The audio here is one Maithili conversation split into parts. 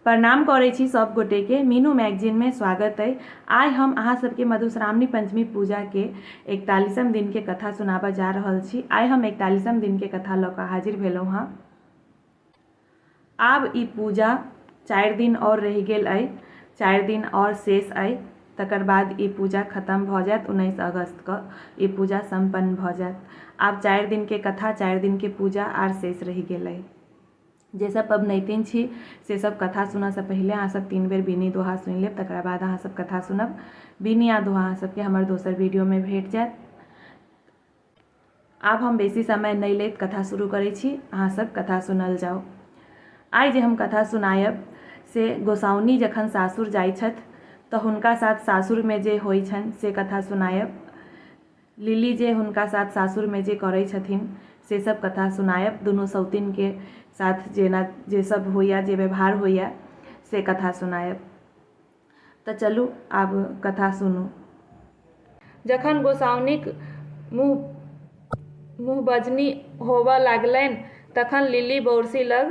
प्रणाम करै छी सब गोटे के मीनू मैगजीन में स्वागत अइ आइ हम अहाँ सबके मधुश्रावणी पंचमी पूजा के इकतालीसम दिन के कथा सुनाबऽ जा रहल छी आइ हम इकतालीसम दिन के कथा लऽ कऽ हाजिर भेलहुँ हँ आब ई पूजा चारि दिन और रहि गेल अइ चारि दिन और शेष अइ तकर बाद ई पूजा खत्म भऽ जायत उन्नैस अगस्त कऽ ई पूजा सम्पन्न भऽ जायत आब चारि दिन के कथा चारि दिन के पूजा आर शेष रहि गेल अइ जे सब पबनैतिन छी से सब कथा सुनऽसँ पहिले अहाँ सब तीन बेर बीनी दोहा सुनि लेब तकरा बाद अहाँ सब कथा सुनब बीनी आ दोहा अहाँ सबके हमर दोसर वीडियोमे भेट जायत आब हम बेसी समय नहि लैत कथा शुरू करै छी अहाँ सब कथा सुनल जाउ आइ जे हम कथा सुनायब से गोसाउनी जखन सासुर जाइ छथि तऽ हुनका साथ सासुरमे जे होइ छनि से कथा सुनायब लिली जे हुनका साथ सासुरमे जे करै छथिन से सब कथा सुनायब दुनू सौतिनके साथ जेना जे सब होइए जे व्यवहार होइए से कथा सुनायब तऽ चलू आब कथा सुनू जखन गोसाउनिक मुँह मुँहबजनी होबऽ लागलनि तखन लिली बौरसी लग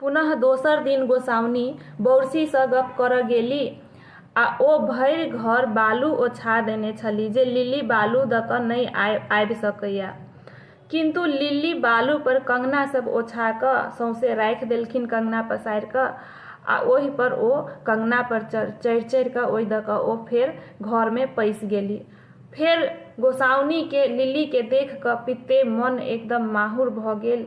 पुनः दोसर दिन गोसाउनि बौरसी सँ गप्प करऽ गेली आ ओ भरि घर बालू ओछा देने छली जे लिली बालू दऽ कऽ नहि आबि सकैए। किन्तु लिली बालू पर कंगना सभ ओछा कऽ सौंसे राखि देलखिन कंगना पसारि कऽ आ ओहि पर ओ कंगना पर चढ़ि-चढ़ि कऽ ओहि दऽ कऽ ओ फेर घर मे पैसि गेली। फेर गोसाउनि केँ लिली केँ देख कऽ पित्ते मन एकदम माहुर भऽ गेल।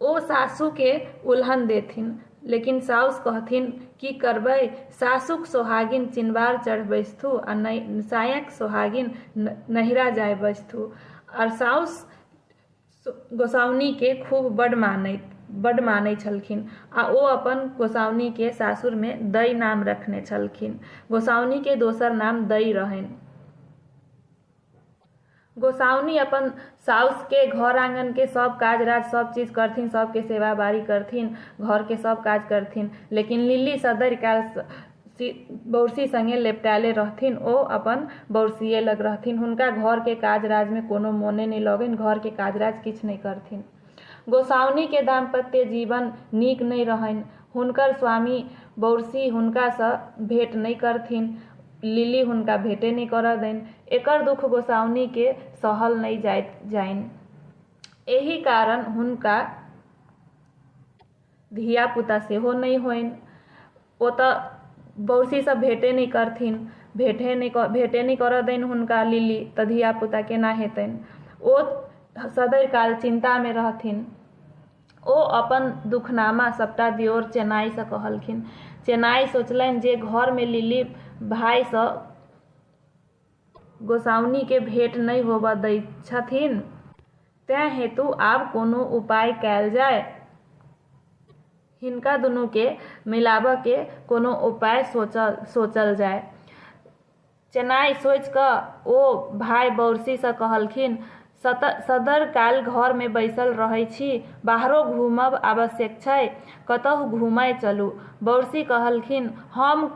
ओ सासुके उलहन देथिन लेकिन साउस कहथिन की करबै सासुक सोहागिन चिनबार चढ़ बैसथु आ सायक सोहागिन नहिरा जाय बैसथु आओर साउस गोसाउनीके खूब बड मानैत बड मानै छलखिन आ ओ अपन गोसाउनीके सासुरमे दै नाम रखने छलखिन गोसाउनीके दोसर नाम दै रहनि गोसाउनी अपन साउस के घर आंगन के सब काज राज सब चीज करथिन सबके सेवा बारी करथिन घर के सब काज करथिन लेकिन लिली सदर काल बौरसी संगे लेपटाले रहथिन ओ अपन बौरसिए लग रहथिन हुनका घर के काज राज में कोनो मोने नहीं लगन घर के काज राज किछ नहीं करथिन गोसाउनि के दाम्पत्य जीवन नीक नहि रहनि। हुनकर स्वामी बौरसी हुनका सँ भेंट नहि करथिन। लिली हुनका भेंटे नहि करय दनि। एकर दुख गोसाउनि के सहल नहि जाइत जानि। एहि कारण हुनका। धियापुता सेहो नहि होनि ओतऽ बौरसीसँ भेटे नहि करथिन भेटे नहि भेटे नहि करऽ दनि हुनका लिली तऽ धियापुता केना हेतनि ओ सदय काल चिन्तामे रहथिन ओ अपन दुखनामा सभटा दियोर चेनाइसँ कहलखिन चेनाइ सोचलनि जे घरमे लिली भायसँ गोसाउनिकेँ भेट नहि होबऽ दैत छथिन। तैं हेतु आब कोनो उपाय कएल जाए। हिनका दुनूकेँ मिलाबऽकेँ कोनो उपाय सोचल जाए। चेनाइ सोचि कऽ ओ भाइ बौरसीसँ कहलखिन, सदर काल घर मे बैसल रहै छी। बाहरो घूमब आवश्यक छै। कतहु घूमए चलू। बौरसी कहलखिन, हम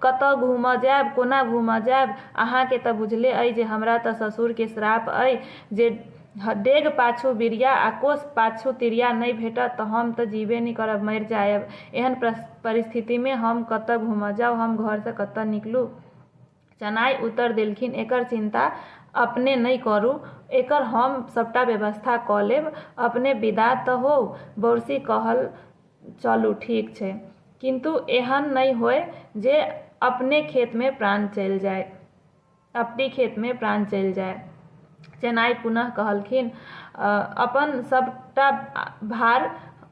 कतए घूमए जाएब? कोना घूमए जाएब? अहाँ केँ तँ बुझले अइ जे हमरा तँ ससुर केँ श्राप अइ जे डेग पाछू बिरिया आ कोस पाछू तिरिया नहि भेटत तँ हम तँ जीबे नहि करब, मरि जाएब। एहन परिस्थिति मे हम कतए घूमए जाउ? हम घर सँ कतए निकलू? चेनाइ उतरि देलखिन। एकर चिन्ता अपने नहि करू। एकर हम सभटा व्यवस्था कऽ लेब। अपने विदा तँ होउ। बौरसी कहल चलू ठीक छै। किन्तु एहन नहि होए जे अपने खेतमे प्राण चलि जाए। अपनी खेतमे प्राण चलि जाए। चेनाइ पुनः कहलखिन, अपन सभटा भार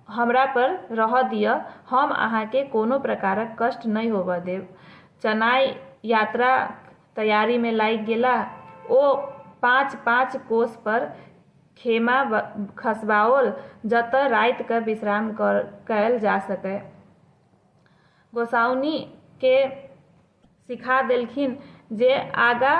हमरापर रहए दिअ। हम अहाँकेँ कोनो प्रकारक कष्ट नहि होबए देब। चनाय यात्राक तैयारीमे लागि गेलाह। ओ पाँच-पाँच कोस पर खेमा खसबाओल, जतय राति कऽ विश्राम कयल जा सकय। गोसाउनि के सिखा देलखिन जे आगा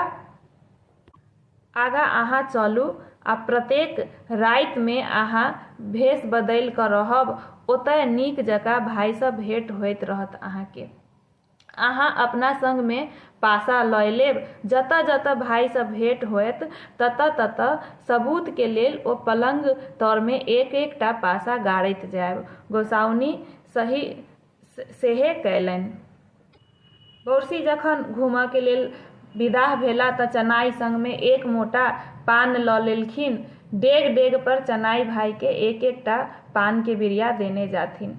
आगाँ अहाँ चलू आ प्रत्येक रातिमे अहाँ भेष बदलि कऽ रहब। ओतय नीक जकाँ भायसँ भेंट होइत रहत अहाँकेँ। अहाँ अपना संगमे पाशा लए लेब। जतऽ-जतऽ भाइसँ भेंट होएत ततऽ-ततऽ सबूतके लेल ओ पलंग तरमे एक-एक टा पाशा गाड़ैत जाएब। गोसाउनि सही सेहे कएलनि। बौरसी जखन घूमऽके लेल विदाह भेला तँ चनाइ संगमे एक मोटा पान लऽ लेलखिन। डेग-डेगपर चनाइ भाइकेँ एक-एक टा पानके बिरिया देने जाथिन।